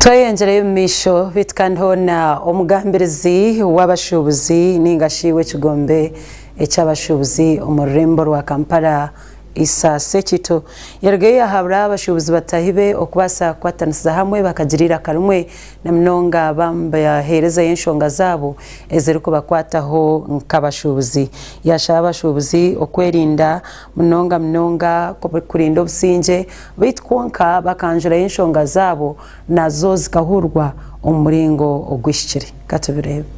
tweyengyereyo omu maisho baitu kandi hoona omugambirizi w'abashuubuzi ninga shi w'ekigombe eky'abashuubuzi omu rurembo rwa Kampala Isa Sekito yarugayo yahabura abashuubuzi bataahi be okubaasa kukwatanisiza hamwe bakagira eiraka rimwe na munonga baheerezeyo enshonga zaabo ezirikubakwataho nk'abashuubuzi. Yaashaba abashuubuzi okwerinda munonga munonga kurinda obusingye beitu kwonka bakanjurayo enshonga zaabo nazo zikahurwa omu muringo oguhikire. Ka tubireebe.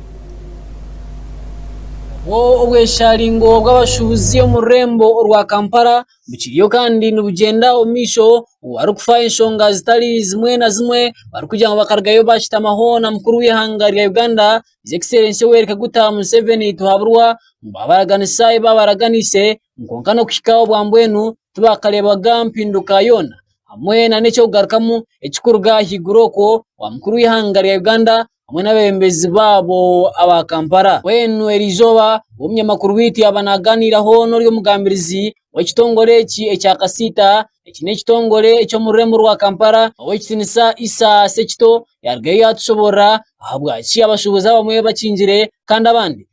Obwo obweshaaringo bw'abashuubuzi omu rurembo orwa Kampala bukiriyo kandi nibugyenda omu maisho, obu barikufaho enshonga zitari zimwe na zimwe barikugira ngu bakarugayo baashutamaho na mukuru w'eihanga rya Uganda His Excellency Yoweri Kaguta Museveni Tihaburwa, ngu baabaraganisa ebi baabaraganise kwonka n'okuhika obwambwenu tibakareebaga mpinduka yoona hamwe nana eky'okugarukamu ekirikuruga ahaiguru okwo owa mukuru w'eihanga rya Uganda hamwe n'abebembezi baabo aba Kampala. Mbwenu eri eizooba obu omunyamakuru waitu yaaba nagaaniiraho nori omugambirizi w'ekitongore eki ekya kasiita, eki n'ekitongore eky'omu rurembo rwa Kampala ow'ekitinisa Isa Sekito yarugayo yatushoboorora ahabwaki abashubuzi abamwe bakingire kandi abandi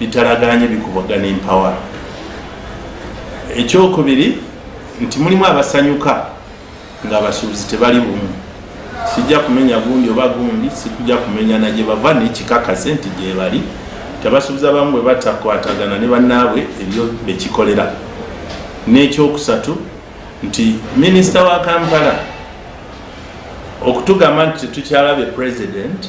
bitaraganya ebikubagana empawa. Eky'okubiri, ntimuri mwabasanyuka ngu abashuubuzi tibari bumwe. Tikija kumenya gundi oba gundi, tikija kumenya na gye bava n'ekikakazi nti gye bari. Nti abashuubuzi abamwe bwe batakwatagana ne banaabwe ebyo bekikorera. N'eky'okusatu, nti Minisita wa Kampala okutugamba nti titukyarabe Purezidenti,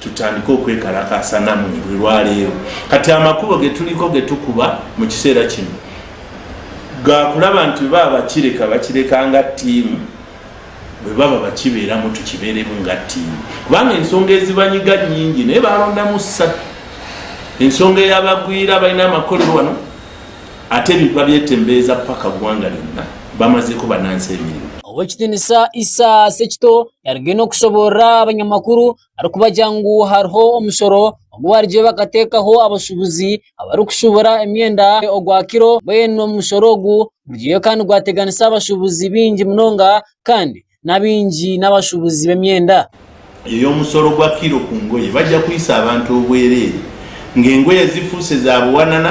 Tutandika okwekarakaasa namwe buri rwareero. Kati amakubo geturiko getukuba mukiseera kinu gakura abantu bwe baba bakireka bakireka nga tiimu, bwe baba bakibeeramu tukibeeremu nga tiimu kubanga ensonga ezibanyiga nyingi naye barondamu satu, ensonga eyabagwire abaine amakorero wanu ate ebintu babyetembeeza paka gwanga lyona bamazeko banansi emirimo. Ow'ekitiinisa Isa Sekito yarugire n'okushoboorora abanyamakuru arikubagira ngu hariho omushoro ogu baarugire bakateekaho abashuubuzi abarikushuubura emyenda ogwa kiro mbwenu omushoro ogu gurugire kandi gwateganisa abashuubuzi baingi munonga kandi n'abaingi n'abashuubuzi b'emyenda. Omushoro gwa kiro ku ngoye bagira kuhitsya abantu obwereere ngu engoye zifuuse zaabuwanana.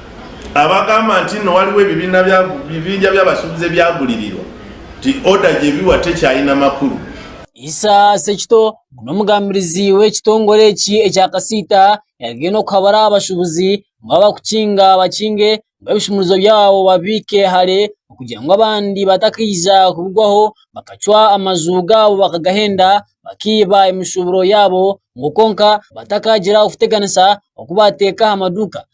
abagamba nti ni waliwo ebibiina bya bibinja by'abasubuzi ebyagulirirwa nti oda gye biwa tekyayina makuru. Isa Sekito ngu n'omugambirizi w'ekitongore eki ekya Kasiita yagenda okuhabura aha bashubuzi ngu abakukinga bakinge ngu ebishumuruzo byabo babiike hare okugira ngu abandi batakaija kubigwaho bakacwa amaju gaabo bakagahenda bakiiba emishuburo yaabo ngu kwonka batakagira okuteganisa oku bateeka aha maduuka.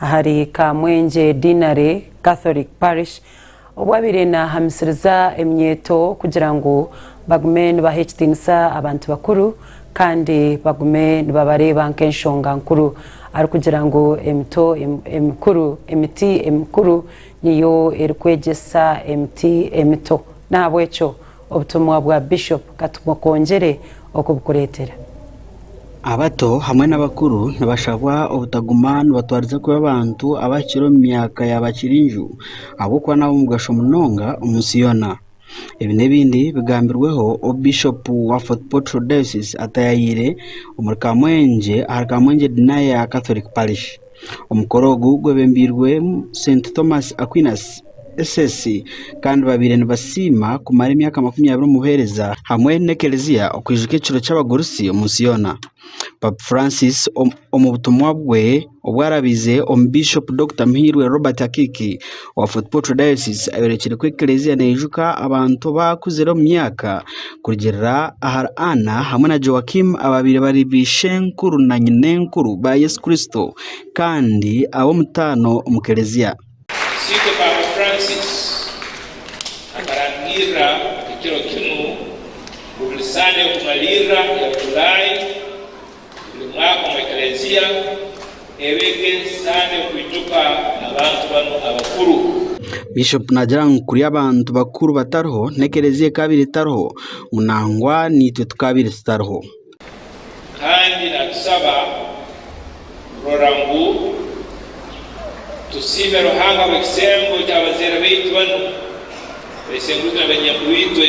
ahari Kamwengye Deanery Catholic Parish obu abaire naahamisiriza eminyeeto kugira ngu bagume nibaha ekitiinisa abantu bakuru kandi bagume nibabareeba nk'enshonga nkuru arikugira ngu emito emikuru emiti emikuru niyo erikwegyesa emiti emito n'ahabw'ekyo Obutumwa bwa Bishop Katumokongere okubukureetera. Abato hamwe n'abakuru nibashabwa obutaguma nibatwariza kubi abantu abahikire omu myaka ya bakirinju ahabw'okuba n'ab'omugasho munonga omu nsi yoona. Ebi n'ebindi bigambirweho obu Bishop wa Fort Portal Diocese atayaayire omuri Kamwengye ahari Kamwengye Denier Catholic Parish. Omukoro ogu gwebembeirwemu Senti Thomas Aquinas, SS, kandi babaire nibasiima kumara emyaka makumi abiri omu buheereza hamwe n'ekereziya okwijuka ekiro ky'abagurusi omu nsi yoona. Papa Francis omu butumwa bwe obwaraabize omu Bishop Dokita Muhirwe Robert Akiiki, wa Fort Portal Diocese ayorekire ku Eklezia neijuka abantu abaakuzire omu myaka kurugiirira ahari Anna hamwe na Joachim abaabaire bari baishenkuru na nyinenkuru ba Yesu Kristo kandi ab'omutaano omu Klezia. Sitwe Paapa Francis akarangirira ekiro kinu ngu buri Sande y'okumaliirira eya July, Buri mwaka omu Eklezia eba ek'ensi Sande y'okwijuka abantu banu abakuru. Bishop naagira ngu kuri abantu bakuru batariho, n'Eklezia ekaabaire etariho, ngu nangwa naitwe tukaabaire tutariho. Kandi naatusaba kurora ngu tusiime Ruhanga ahabw'ekisembo ky'abazaire baitu banu, baisenguritu na banyankuru itwe.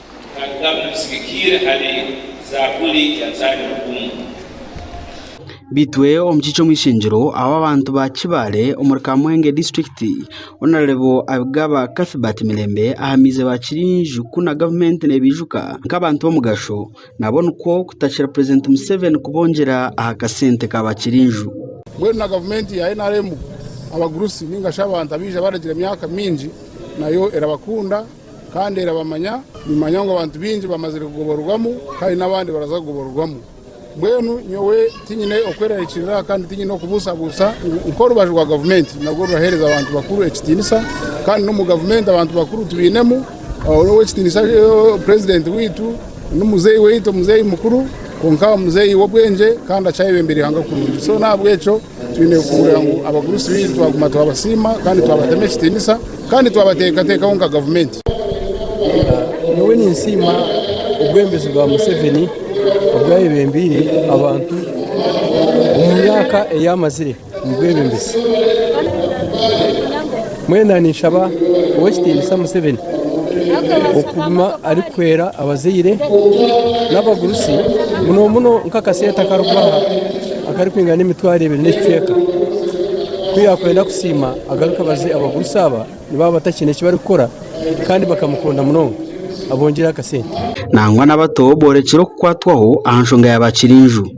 Bitwe omukiiki omw'ishengyero ahu abantu ba Kibaale omuri Kamwenge district honarebo Abigaba Cuthbert Mirembe ahamize ba Kirinju ku na gavumenti nebijuka nk'abantu b'omugasho nabo nikwo kutakira president Museven kubongyera aha kasente ka ba Kirinju. Mbwenu na gavumenti ya nrm abagurusi ningashi abantu abaija baragira emyaka mingi nayo erabakunda. Kandi erabamanya, nimanya ngu abantu baingi bamazire kugoborwamu, kandi n'abandi baraza kugoborwamu. Mbwenu nyowe tinyine okwerarikirira kandi tinyine okubuusabuusa ngu nk'orubaju rwa gavumenti narwo ruraheereza abantu bakuru ekitiinisa, kandi n'omu gavumenti abantu bakuru tubainemu, ow'ekitiinisa purezidenti waitu n'omuzeeyi waitu, omuzeeyi mukuru, kwonka muzeeyi w'obwengye kandi akyayebembera eihanga kurungi. So n'ahabw'ekyo. Twine kuhurira ngu abagurusi baitu twaguma twabasiima kandi twabatema ekitiinisa kandi twabateekateekaho nka gavumenti. Nyowe ninsiima obwebembezi bwa Museveni obwayebembeire abantu omu myaka eyi amazire omu bwebembezi. Mbwenu ninshaba Ow'ekitiinisa Museveni okuguma arikuhwera abazaire n'abagurusi muno muno nk'akasente akarikubaha akarikwingana emitwaro ebiri n'ekicweka ku yaakwenda kusiima agaruke abaze abagurusi aba nibaaba batakiine eki barikukora kandi bakamukunda munonga abongyereho akasente. Nangwa n'abato boorekire okukwatwaho aha nshonga ya ba Kirinju.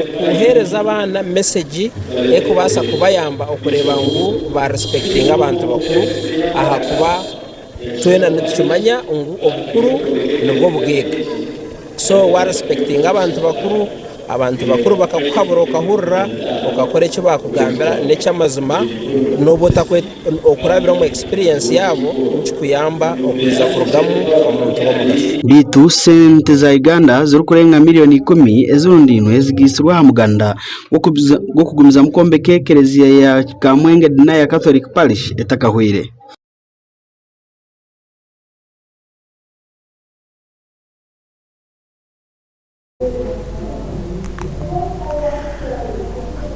Okuheereza abaana mesegi erikubaasa kubayamba okureeba ngu ba risipekitinga abantu bakuru ahakuba twena nitukimanya ngu obukuru nibwo bugaiga. So wa risipekitinga abantu bakuru, abantu bakuru bakakuhabura okahurira, okakora eki baakugambira n'eky'amazima n'obu otakwe... Okurabira omu experience yaabo nikikuyamba okwija kurugamu omuntu w'omugasho. Beitu sente za Uganda zirikurenga millioni ikumi ezirundainwe zigaitsirwe aha muganda gw'okugumizamu kwombeka ekereziya ya Kamwenge Denier Catholic Parish etakahweire.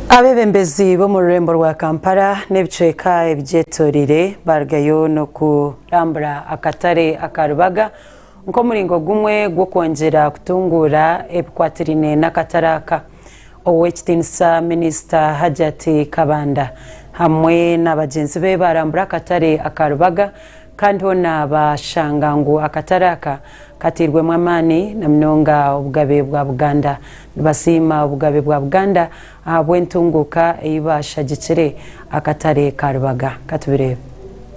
Abebembezi b'omu rurembo rwa Kampala n'ebicweka ebigyetoreire barugayo n'okurambura akatare aka Rubaga nk'omuringo gumwe gw'okwongyera kutunguura ebikwatirine n'akatare aka. Ow'ekitiinisa Minisita Hajjat Kabanda hamwe na bagyenzi be barambura akatare aka Rubaga kandi hoona bashanga ngu akatare aka Kateirwemu amaani na munonga obugabe bwa Buganda. Nibasiima obugabe bwa Buganda ahabw'entunguuka ei baashagikire akatare ka Rubaga. Katubireebe.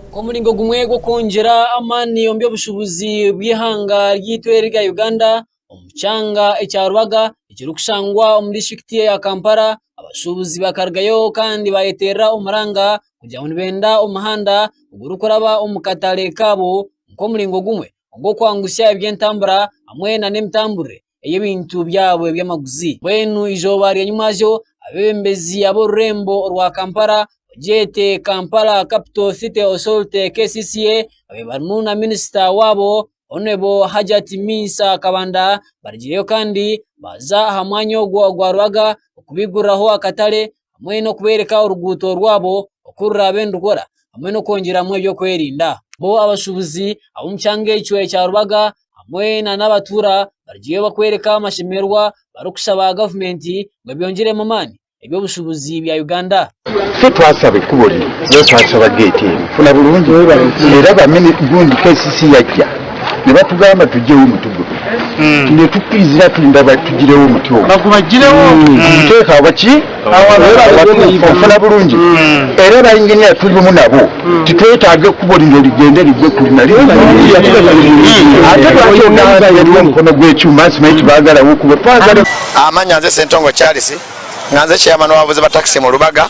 Nk'omuringo gumwe gw'okwongyera amaani omu by'obushubuzi bw'eihanga ryaitu erya Uganda omu kyanga ekya Rubaga ekirikushangwa omu disiturikiti eya Kampala, abashubuzi bakarugayo kandi baayeteerera omuranga kugira ngu nibenda omuhanda ogurikuraba omu katare kaabo nk'omuringo gumwe ogw'okwangutsya eby'entambura hamwe nana emitamburire ey'ebintu byabo eby'amaguzi. Mbwenu eizooba rya nyimwazyo abebembezi ab'orurembo orwa Kampala oryete Kampala Capital City Authority, kcca, babaire barimu na minisita waabo Hon Hajjat Minsa Kabanda barigireyo kandi baaza aha mwanya ogwo ogwa Rubaga kubaiguriraho akatare hamwe n'okubooreka oruguuto rwabo oku ruraabe nirukora hamwe n'okwongyeramu eby'okwerinda. Bo abashuubuzi ab'omu kyanga ekyo ekya Rubaga hamwe nana abatuura bariyo nibakworeka amashemererwa barikushaba gavumenti ngu ebyongyeremu amaani eby'obushuubuzi bya Uganda. nibatugamba tugyeyo omuti gumwe itwe tukwizire ati nibatugireho omuti ogwo kumuteeka ahabwaki obufuna burungi era aba engineer turimu nabo titwetaaga ekubo rino rigyende rigwe kuri na kuri ate lwaki ogamba ngu hariho omukono gw'ekyoma nsimanyi tibagaraho ekubo twagara Amanyanze Ssentongo Charles nganze chairman wa bavuzi ba taxi mu Rubaga.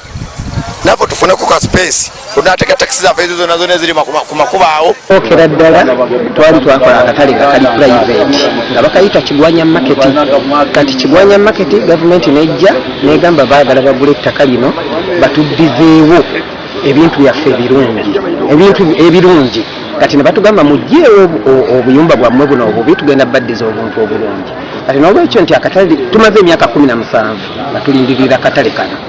nabwo tufune ku ka space ku natega taxi zafe ezo zona zona eziri makuma kuba aho. Okukira ddala twali twakora akatare akari private nga bakayeta Kigwanya Market kati Kigwanya Market gavumenti nejja negamba bagala bagure ettaka lino batuddizeewo ebintu byaffe ebirungi ebintu ebirungi kati nibatugamba mujjeewo obuyumba bwamwe buno obubi tugenda baddiza obuntu oburungi kati nolwekyo nti akatare tumaze emyaka kumi na musanvu nga tulindiririre akatare kano.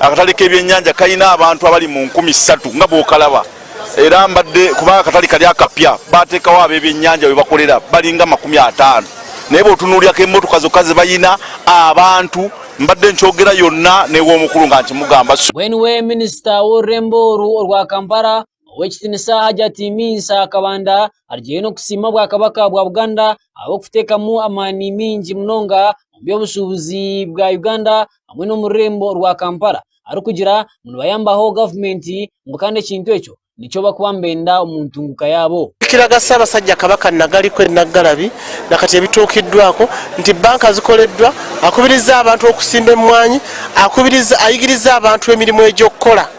Akatare k'ebyenyanja kaine abantu abari mu nkumi ishatu nga bookaraba era mbade kuba akatare kari akapya bateekaho ab'ebyenyanja ahu bakorera bari nga makumi ataano naye bwotunuurira nk'emotoka zokka zibaine abantu mbade nkyogera yona n'ew'omukuru nka nkimugamba. Mbwenu we minisita w'orurembo oru orwa Kampala Owekitinisa Hajjati Minsa Kabanda arugire nokusiima Obwakabaka bwa Buganda ahabwokutekamu amaani mingi munonga omu byobushubuzi bwa Uganda hamwe nomururembo rwa Kampala arikugira ngu nibayambaho gavumenti ngu kandi ekintu ekyo nikyo barikuba nibenda omu ntunguka yaabo. Ekiraga Ssabasajja Kabaka Nagali Queen Naggalabi nakati ebituukiddwako nti bbanka zikoleddwa, akubirizza abantu okusimba emmwanyi, akubirizza ayigiriza abantu emirimu egy'okukola.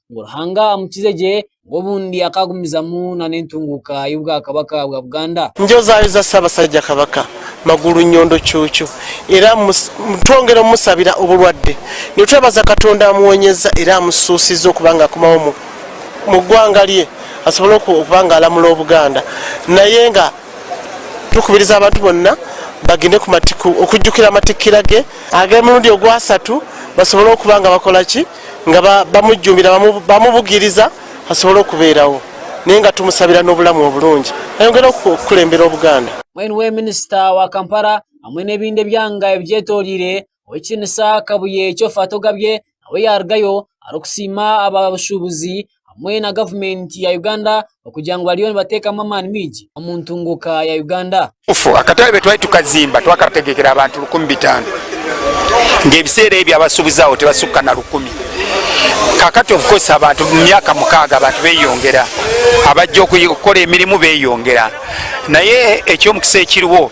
ngu Ruhanga amukize gye ngu obundi akaagumizamu nana entunguuka y'Obwakabaka bwa Buganda. Njozaayoza Ssabasajja Kabaka Magulu Nyondo Cuucu era twongera omusabira oburwadde nitwebaza Katonda amuwonyeza era amususize okuba nga akomaho mu gwanga rye asobole okuba nga aramura Obuganda naye nga tukubiriza abantu bonna bagende ku matiku okujukira amatikkira ge agemirundi ogwasatu basobole okuba nga bakora ki Nga ba, bamujumbira, bamu, bamubugiriza asobole okubeeraho. Naye nga tumusabira n'obulamu oburungi, ayongere oku, okukulembera Obuganda. Hamwe niwe Minisita wa Kampala hamwe n'ebindi ebyanga ebigyetoreire, Ow'ekitinisa Kabuye Kyofatogabye nawe yaarugayo arikusiima abashuubuzi hamwe na gavumenti ya Uganda okugira ngu bariyo nibateekamu amaani maingi omu ntunguuka ya Uganda. Obugufu akatebe twali tukazimba twakategekera abantu rukumi bitaano ngu ebiseera ebyo abasubuzi aho tibasukka na rukumi. Kakati obukosi abantu mu myaka mukaaga abantu beyongera, abajja okukora emirimu beyongera naye eky'omukisa ekiriwo,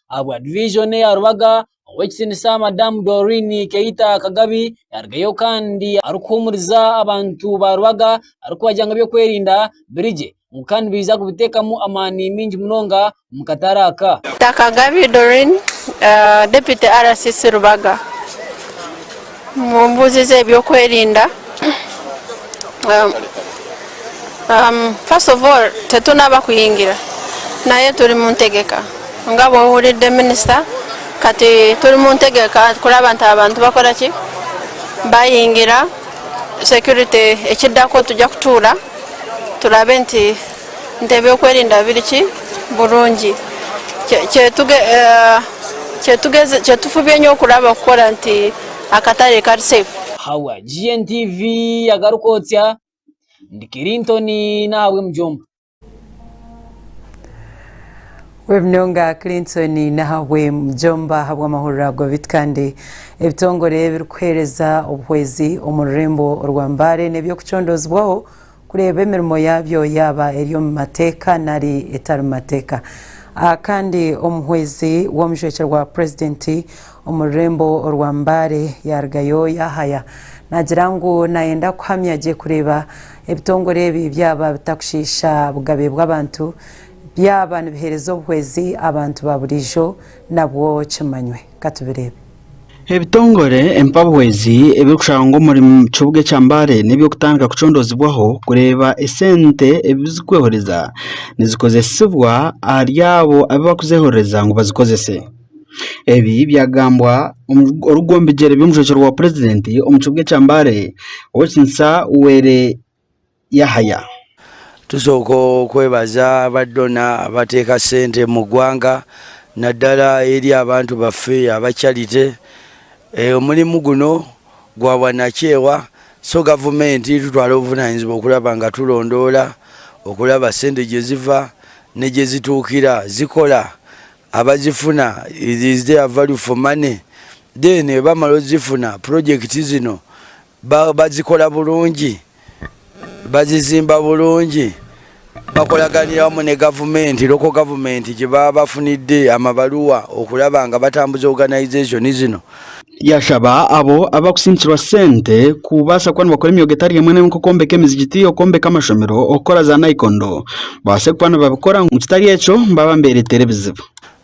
ahabwa divijoni eya Rubaga ow'ekitinisa Madamu Doreen Keita Kagabi yarugayo kandi arikuhumuriza abantu ba Rubaga arikubagira ngu eby'okwerinda birigye ngu kandi nibaija kubiteekamu amaani maingi munonga omu katare aka. Kagabi Doreen deputy RCC Rubaga. Mu mbuuzi z'ebyokwerinda, first of all titu n'abakuhingira naye turi mu ntegeka nga bwoba ori the minister kati turi mu ntegeka kuraba nti abantu bakora ki bahingira security ekidako tugya kutuura turabe nti Ente eby'okwerinda biri ki burungi kyetufubye nyo kuraba kukora nti akatare kari safe. Hawa GNTV yagaruka otya? Ndi Kilinton Nahabwemujomba. Webinonga Clinton Nahabwemujomba ahabw'amahuriro ago bit kandi ebitongore ebirikuhereza obuhwezi omu rurembo orwa Mbale n'ebyokucondoozibwaho. Kureeba emirimo yaabyo yaaba eri omu mateeka nari etari mateeka. Aha kandi omuhwezi w'omujwekye gwa purezidenti omu rurembo orwa Mbale yaarugayo yaahaya naagira ngu naayenda kuhamya gye kureeba ebitongore ebi byaba bitakushiisha bugabe bw'abantu, byaba nibiheereza obuhwezi abantu ba buriijo nabwo kimanywe. Ka tubireebe. Ebitongore empabwezi ebirikushaba ngu omuri kibuga ekya Mbale n'eby'okutandika kucondoozibwaho kureeba esente ebi zirikweehoreza nizikozesibwa ahari abo abu barikuzeehorereza ngu bazikozese. Ebi byagambwa orikugoba omu bigyere by'omushomesa wa purezidenti omu kibuga ekya Mbale, Ow'ekitinisa Were Yahaya. Tusooka okwebaza aba dona abateeka sente mu gwanga nadala eri abantu baffe aba charity. Omulimu guno gwa bwanakyewa so gavumenti erikutwara obuvunanizibwa okuraba nga turondoora okuraba sente gyeziva negyezituukira zikora abazifuna is there value for money then bamara ozifuna project zino Bagikora burungi, bagizimba burungi, bakoraganira hamwe na gavumenti, local government, gibaba bafunidde amabaruwa okuraba nga batambuza organization zino. Yashaba abo abakusindikirwa sente kubaasa kuba nibakora emyoga etari emwe n'emwe nk'okwombeka emizigiti, okwombeka amashomero, okukora za naikondo babaase kuba nibabikora ngu kitari ekyo baba nibereteera ebizibu.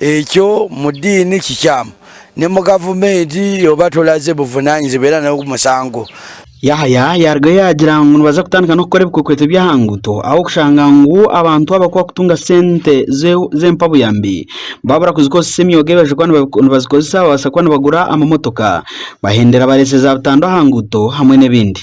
Ekyo mu diini kikyamu nomu gavumenti oba tolaze buvunanyizibwa era nogu musango. Yahaya yarugayo yagira ngu nibaza kutandika nokukora ebikwekweto byaha nguuto ahabwokushanga ngu abantu abo abakuba kutunga sente zempabuyambi babura kuzikozesa emyoga eyibaija kuba nibazikozesa babasa kuba nibagura amamotoka bahendera bareese za butandwa aha nguuto hamwe nebindi.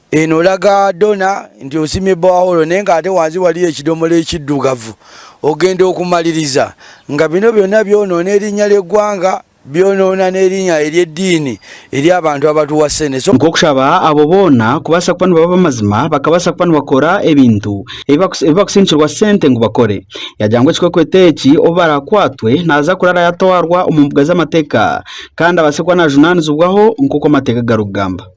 Enoraga Donna nti osimye borehole nenga ate wansi waliyo ekidomora ekiddugavu ogenda okumaliriza nga bino byona byonoona erinya ry'eggwanga byonoona n'erinya ery'ediini eri abantu abatuwa sene so Nk'okushaba abo boona kubaasa kuba nibaba ab'amazima bakabaasa kuba nibakora ebintu ebibakusindikirwa sente ngu bakore. Yagira ngu ekikwekweto eki obu baraakwatwe naaza kurara yatwarwa omu mbuga z'amateeka kandi abaase kuba najunaanizibwaho nk'oku amateeka garikugamba.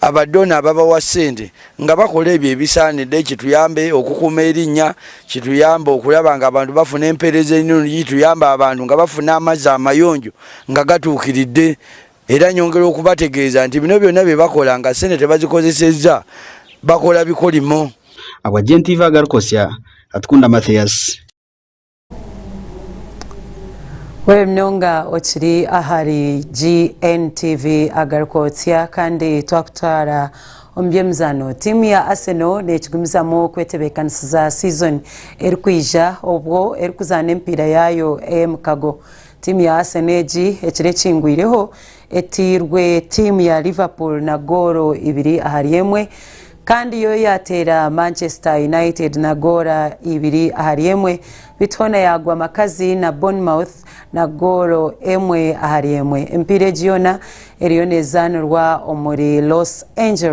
Abadoni ababawa sente nga bakora ebyo ebisanire kituyambe okukuuma erinya, kituyambe okuraba ngu abantu bafuna empereza enungi, kituyambe abantu nga bafuna amazi amayonjo nga gatukiride era nyongera okubategeza nti bino byona byebakora nga sente tebazikozeseza bakora bikorimo. Abwagye nti iva agari kosya, Atukunda Mathias. Weeri munonga okiri ahari GNTV Agarikootsya kandi twakutwara omu by'emizaano tiimu ya Arsenal neekigumizamu kwetebeekanisiza siizoni erikwija obwo erikuzaana emipiira yaayo ey'emikago. Tiimu ya Arsenal egi ekiro ekingwireho Etairwe tiimu ya Liverpool na goolo ibiri ahari emwe kandi yo yaateera Manchester United na goolo ibiri ahari emwe beitu hoona yaagwa makazi na Bournemouth na goolo emwe ahari emwe. Emipiira egi yoona eriyo neezaanirwa omuri Los Angeles.